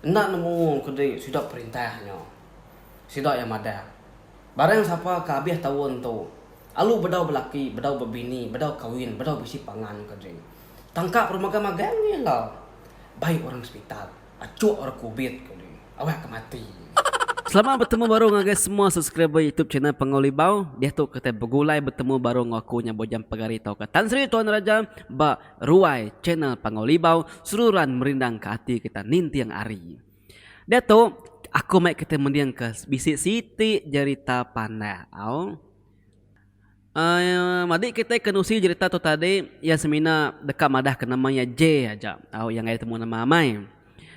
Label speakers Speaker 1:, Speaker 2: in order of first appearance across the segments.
Speaker 1: Enda nemu ke di sida perintah nya. Sida iya madah, Barang sapa ke abih taun tu, alu bedau belaki, bedau bebini, bedau kawin, bedau bisi pangan ke di tangka peremagang magang nya ila bai orang sepital, achuk orang kubit ke di awak ke mati. Selamat betemu baru ngagai semua subscriber youtube channel Pangau Libau. Diatu kitai begulai betemu baru enggau aku nya Bujang Pagari tauka Tan Sri Tuan Raja ba. Ruai channel Panggau Libau seruran merindang ke ati kita ninting ari. Diatu aku mai kita mending ke bisi siti jerita panah au. Emm madi kita kenusi jerita tu tadi iya semina deka madah ke nama iya J aja au iya ngagai temu nama amai.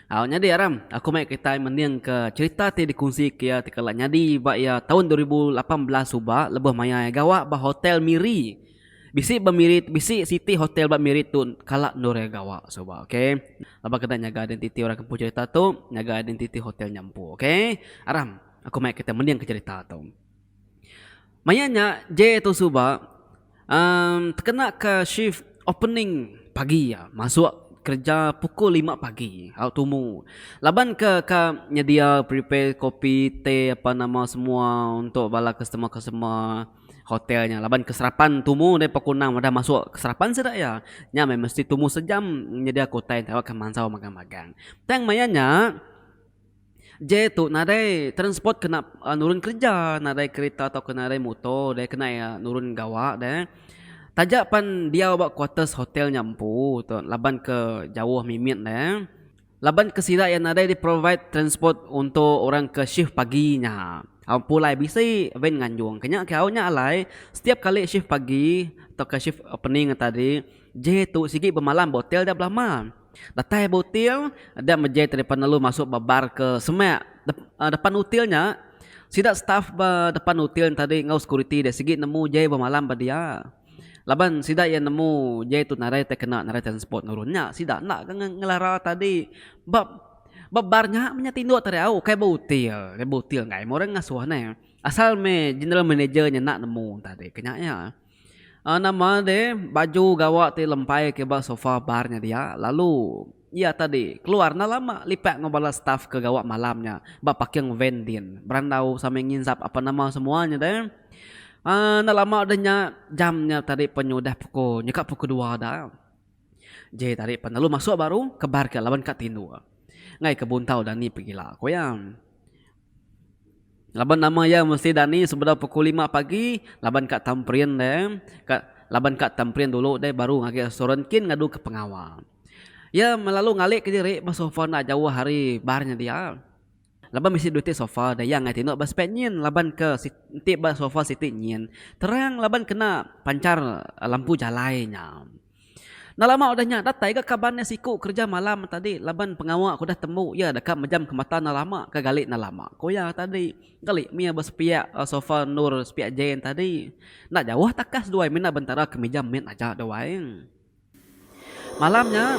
Speaker 1: Au nyadi aram aku mai kita mending ke jerita ti dikunsi ke iya ti kala nyadi ba iya taun dua ribu lapan belas suba lebuh maya iya gawa ba hotel Miri. Bisi ba miri bisi siti hotel ba miri tu kala endur iya gawa suba ok. Laban kena nyaga identiti orang ke empu cerita tu nyaga identiti hotel nya empu ok. Aram aku mai kita mendingka cerita tu. Maya nya J tu suba uhh tekena ka shift opening pagi iya masuk kereja pukul lima pagi au tumu laban ke ka nyedia prepare kopi teh apan nama semua untuk bala customer customer. hotel nya laban ke serapan tumu deh pokok enam udah masuk ke serapan sida iya nya meh mesti tumu sejam nyedia ke utai tau ke mansau magang magang tang maya nya je tu nadai transport ke nak nurun kerja nadai kereta tau ke nadai motor deh ke nai nurun gawa deh taja pan diau ba kuarters hotel nya empu tu laban ke jauh mimit ne Laban ke sida iya nadai di provide transport untuk orang ke shift pagi nya. Au empu alai bisi van nganjung ke nya ke au nya alai setiap kali shift pagi tauka shift opening nya tadi jai tu sigi bemalam ba hotel da belama. Datai ba hotel da meh jai tarikan lalu masuk ba bar ke semak uhh depan hotel nya. Sida staff ba depan hotel nya tadi enggau security dia sigi nemu jai bemalam ba dia. Laban sida iya nemu jai tu narai tai kena narai transport nurun nya sida enda ke ngelara tadi ba ba bar nya menya tinduk tadi au kai beutil kai beutil nggai meh orang ngasuh neh asal meh general manager nya enda nemu tadi ke nya iya nama deh baju gawa ti lempai ke ba sofa bar nya dia lalu. Iya tadi, keluar enda lama lipat enggau bala staf ke gawa malam nya ba parking van din berandau sambil nginsap apan nama semua nya deh. Aaa enda lama deh nya, jam nya tadi pun nya udah pukul nyekak pukul dua da. Jai tadi pan lalu masuk baru kebar ke laban ka tinduk. Enggai ke buntau dani pegila, ku iya. Laban nama iya mesti dani sebedau pukul lima pagi laban ka tamperin deh ka laban ka tamperin dulu deh baru agi restoran kin ngadu ke pengawa. Iya melalu ngali ke diri ba sofa enda jauh ari bar nya dia. Laban bisi duit ti sofa deh iya angai tinu ba spek nyin laban ke enti ba sofa siti nyin terang laban kena panchar lampu jalai nya. Nalama udah nya datai ga kaban iya siku kereja malam tadi laban pengawa ke udah tembu iya deka mejam ke mata Nalama ke gali Nalama ku iya tadi gali mih iya ba sepiak sofa endur sepiak jein tadi enda jauh takas duai mina bentara ke mejam mit aja duai. Malam nya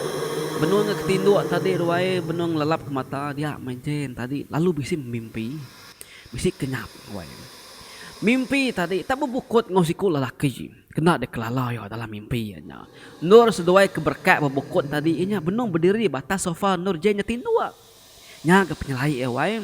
Speaker 1: benung iya ke tinduk tadi duai benung lelap ke mata dia mih jein tadi lalu bisi bemimpi bisi kenyap duai mimpi tadi tak bebukut enggau siku lelaki. Kena dikelala iya dalam mimpi iya nya. Endur seduai ke berekat ba bukut tadi iya nya benung bediri ba atas sofa endur Jane nya tinduk. Nya ga penyelai iya wai.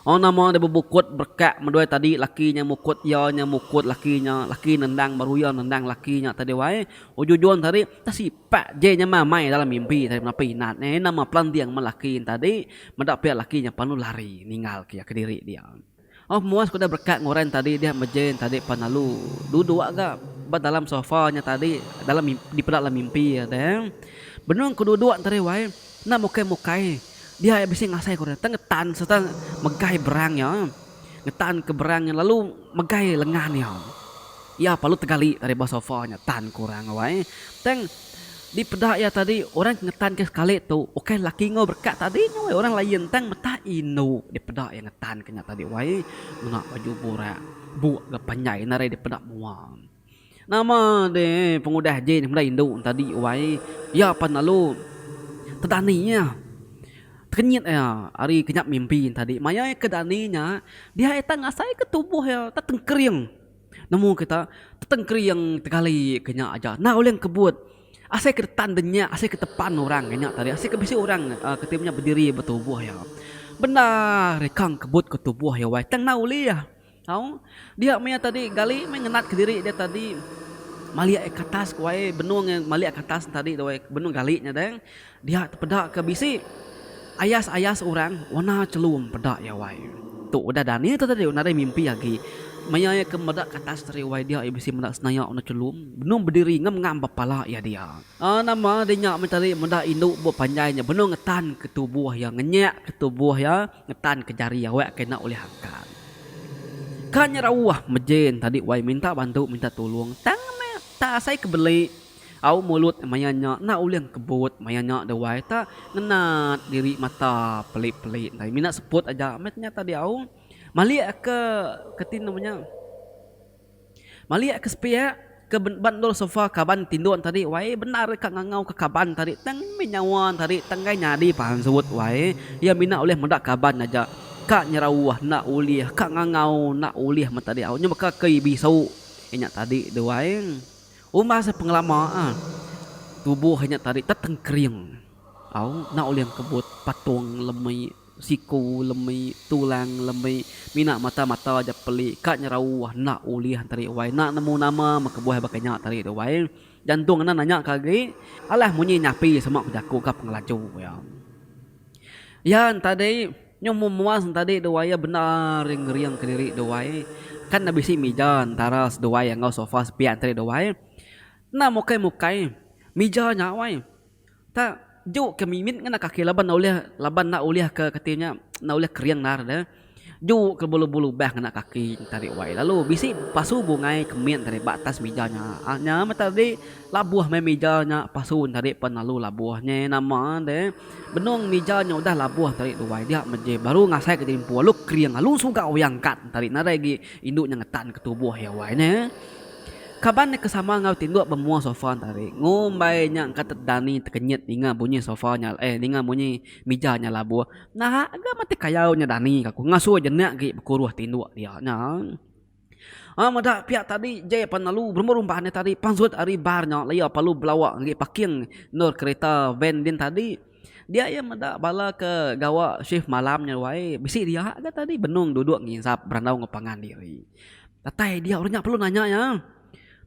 Speaker 1: Orang nama deh bebukut berekat meduai tadi laki nya mukut iya nya mukut laki nya laki nendang baru iya nendang laki nya tadi wai. Ujung-ujung tadi entah sipak Jane nya meh amai dalam mimpi tadi meda pun inat nya. Iya nama pelanding men laki nya tadi meda pia laki nya panu lari ninggal ke iya kediri dia. Oh muas ku da berekat nguran tadi dia mejen tadi pan lalu duduk ga ba dalam sofa nya tadi dalam mimpi dipeda dalam mimpi ada benung ku duduk tadi wai enda mukai mukai dia ia bisi ngasai ku dia tang ngetan serta megai berang nya ngetan ke berang nya lalu megai lengan iya ia perlu tegali dari ba sofa nya tan ku orang wai tang. Di peda iya tadi, orang ke ngetanka sekali tu ukai laki enggau berkat tadi nya wei, orang laie ntang metah indu di peda iya ngetanka nya tadi wei, ngena baju burak, buk ga panjai ina ari dipeda mua. Nama deh pengudah ji meda indu nya tadi wei, iya pan lalu tedani iya, tekenyit iya ari kinya mimpi nya tadi. Maya iya ke dani nya, dia iya tah ngasaika tubuh iya tah tengkering. Nemu kita, peteng kering tegali ke nya aja. Endang ulih ngkebut. Asai ke detan de nya, asai ke tepan orang ke nya tadi, asai ke bisi orang ke ti menya bediri ba tubuh iya. Bendar ika ngkebut ke tubuh iya wai. Tang endang ulih. Au. Dia maya tadi gali meh ngenat ke diri dia tadi malik ai ke atas ku ai. Benung ai malik ai ke atas tadi tu ai. Benung gali nya deh. Dia tepeda ke bisi ayas-ayas orang warna chelum peda iya wai. Tu udah Dani tu tadi nadai mimpi agi. Maya iya ke meda ke atas teri wai dia iya bisi meda senaya warna chelum benung bediri ngam ngam ba pala iya dia. Nama deh nya meh tadi meda indu buk panjai nya benung ngetan ke tubuh iya ngenyak ke tubuh iya ngetan ke jari awak ke enda ulih angkat. Ka nya rauh mejin tadi wai minta bantu minta tulung tang meh tak asai ke beli. Au mulut maya nya enda ulih ngkebut maya nya dewai ta ngenat diri mata peli peli ndai mina seput aja meh nya tadi au malik ke ke ti nama nya malik ke sepiak ke ba endur sofa kaban tinduk tadi wai bendar ka ngangau ka kaban tadi tang meh nyawa tadi tang enggai nyadi pansut wai iya mina ulih meda kaban aja ka nyerauh enda ulih ka ngangau enda ulih meh tadi au nya baka kei bisau nya tadi dewai. Umbas pengelama a, tubuh nya tadi tetengkering au enda ulih engkebut patung lemi, siku lemi, tulang lemi, mina mata-mata aja peli ka nyerau enda ulih enteri uai enda nemu nama meh kebuah baka nya tadi tu uai. Jantung enda nanya ka agi alah munyi nyapi sema ku jaku ka pengelaju iya. Iya ntadi. Nyau memuas entadi dua iya bendar iya ngering kediri dua iya. Kan enda bisi mija entara seduai iya enggau sofa sepiak entadi dua iya. Enda mukai-mukai mija nya wai. Tak juk ke mimit ngena kaki laban enda ulih laban enda ulih ke kati nya enda ulih kering endar deh. Juk ke belubah-lubah ngena kaki entadi wai lalu bisi pasu bungai ke mit entadi ba atas mija nya. Nya meh tadi. Labuh meh mija nya pasu nyadi pen lalu labuh nyeh nama deh benung mija nya udah labuh tadi duai dia meh je baru ngasai ke empu alu kering alu suga oyang kad tadi nadai agi indu nya ngetan ke tubuh iya wai nya kaban nya ke sama enggau tinduk bemua sofa tadi ngumbai nya engka tedani tekenyit ninga bunyi sofa nya eh ninga bunyi mija nya labuh naha ga mati kayau nya dani ka ku ngasuh jenek agi bekuruh tinduk dia nya. Aa meda piak tadi jai pan lalu berumba rumba nya tadi pansut ari bar nya laia lalu belawa ngagai parking endur kereta van din tadi dia iya meda bala ke gawa shift malam nya ruai bisi dia ga tadi benung duduk ngisap berandau enggau pangan diri datai dia orang nya perlu nanya iya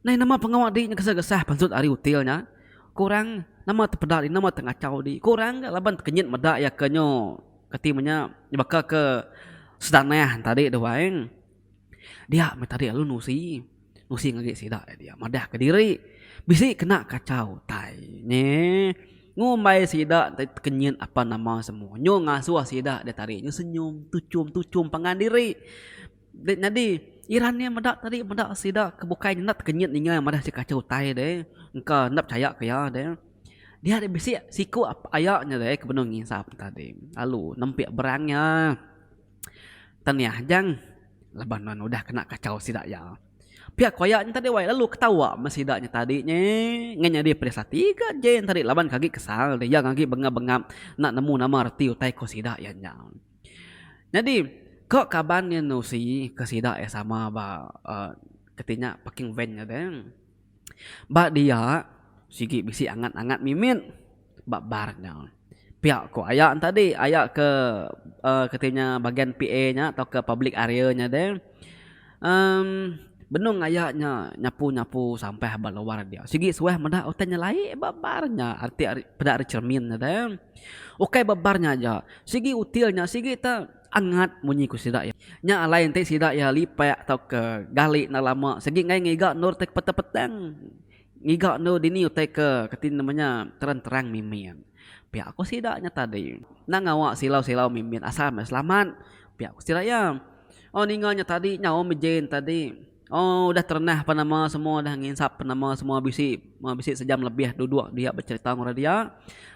Speaker 1: nai nama pengawa di nya kesah kesah pansut ari hotel nya ku orang nama ti peda nama ti ngachau di ku orang ga laban tekenyit meda iya ke nyo kati menya baka ke sedanah tadi tu ai. Dia meh tadi lalu nusi, nusi ngagai sida lalu dia madah ka diri bisi kena kachau utai nyi ngumbai sida ti tekenyit apan nama semua nyu ngasuh sida da tadi nyu senyum tuchum tuchum pangan diri da nyadi iran nya meda tadi meda sida ke bukai enda tekenyit ninga madah sida kachau utai deh engka enda pechaya ke iya deh dia da bisi siku aya nya deh ke benung ngisap tadi lalu nempi berang nya. Tang nih ajang laban nuan udah kena kachau sida iya. Pia ku aya nyentadi wai lalu ketawa meh sida nyentadi nye ngah nyadi pedis ati ga Jay nyentadi laban ke agi kesal deh iya agi bengap-bengap enda nemu nama reti utai ku sida iya nya. Nyadi ko kaban nye enu usi ke sida iya sama ba aaa keti nya parking van nya deh. Ba dia sigi bisi angat-angat mimit ba bar nya. Pia ku aya tadi aya ke uhh kati nya bagian PA nya tauka public area nya deh uhh benung aya nya nyapu nyapu sampah ba luar dia sigi suah meda utai nya laie ba bar nya ati ari peda ari cermin nya deh ukai ba bar nya aja sigi util nya sigi te angat munyi ku sida iya. Nya alai enti sida iya lipak tauka gali enda lama sigi enggai ngiga endur ti ke petang petang. Ngiga endo dini utai ke kati nama nya terang-terang mimin. Pia ku sida nya tadi. Enda ngawa silau-silau mimin asal meh selamat, pia ku sida iya. Oh ninga nya tadi nyau meh Jane tadi. Oh udah terenah pan nama semua udah nginsap pan nama semua bisi bisi sejam lebih duduk dia becerita enggau orang dia.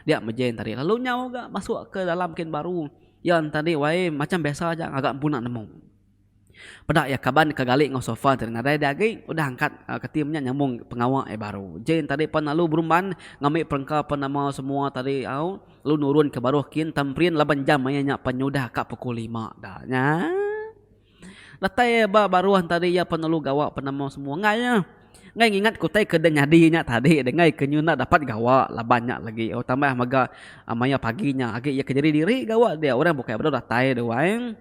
Speaker 1: Dia meh Jane tadi lalu nyau ga masuk ke dalam kin baru. Iya nya tadi wayai macam biasa aja ngaga empuna nemu. Peda iya kaban ke gali enggau sofa ti nadai dia agi udah angkat ke tim nya nyambung pengawa iya baru. Jane tadi pan lalu berumban ngambi perengka pan nama semua tadi au lalu nurun ke baruh kin tamperin laban jam maya nya pan nyudah ka pukul lima da nya. Datai iya ba baruh enti tadi iya pan lalu gawa pan nama semua enggai iya enggai ngingat ke utai ke dah nyadi nya tadi deh enggai ke nyu enda dapat gawa laban nya lagi au tambah mega maya pagi nya agi iya ke nyadi diri gawa dia orang bukai baru datai duai.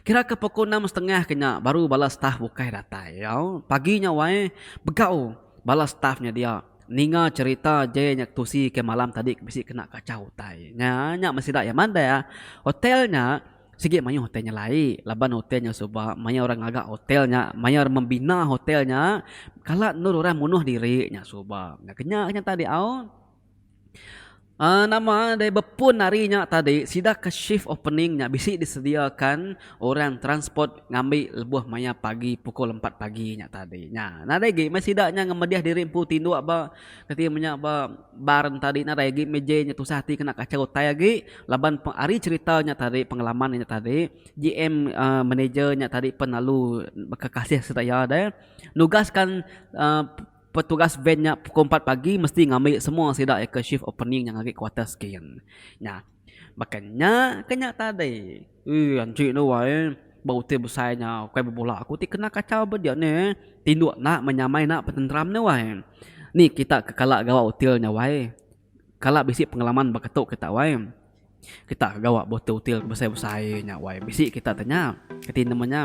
Speaker 1: Kira ke pukul enam setengah ke nya baru bala staf bukai datai. Pagi nya wai, begau bala staf nya dia ninga cherita Jay nya ketusi ke malam tadi ke bisi kena kachau utai. Nya nya meh sida iya madah. Hotel nya sigi mayuh hotel nya lai laban hotel nya suba mayar orang ngaga hotel nya, mayar membina hotel nya, kala endur orang munuh diri nya suba. Nya ke nya tadi au. Uhh nama deh bepun hari nya tadi sida ke shift opening nya bisi disediakan orang transport ngambi lebuh maya pagi pukul empat pagi nya tadi nya nadai agi meh sida nya ngemedih diri empu tinduk ba reti inya meh ba bar tadi nadai agi mih ji nya tusah ati kena kachau utai agi laban ari cherita nya tadi pengalaman nya tadi GM uhh manager nya tadi pun lalu bekakasih sereta iya deh nugaskan uhh. Petugas band nya pukul empat pagi mesti ngambi semua sida ke shift opening nya ngagai kuarters skin. Nya. Baka nya ke nya tadi. Ui anchi enda wai eh. Ba utai besai nya ukai bebula aku ti kena kachau ba dia nih. Tinduk enda menyamai enda petenteram enda wai. Ni kita ke kala gawa hotel nya wai. Kala bisi pengalaman baka tu kita wai. Kita ke gawa botol util ke besai-besai nya wai. Bisi kita tanya kati nama nya.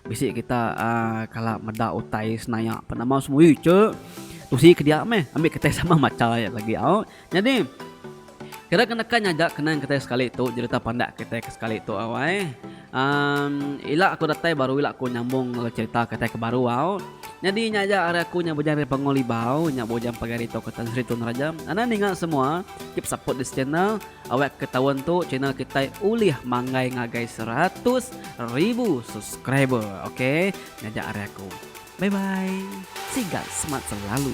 Speaker 1: Bisi kita uhh kala meda utai senaya pa nama semua ui ije tusi ke dia meh ambi kitai sama macha iya lagi au. Nyadi kira ke neka nya aja kenang kitai sekali tu jereta pandak kitai ke sekali tu au ai. Uhm ila aku datai baru ila aku nyambung enggau cerita kitai ke baru au. Nyadi nya aja ari aku nya Bujang dari Panggung Libau nya Bujang pagai ari tauka Tan Sri Tun Raja. Anang ninga semua keep support this channel awak ke taun tu channel kitai ulih manggai ngagai seratus ribu subscriber ok. Nya aja ari aku. Bye bye. Sigal semat selalu.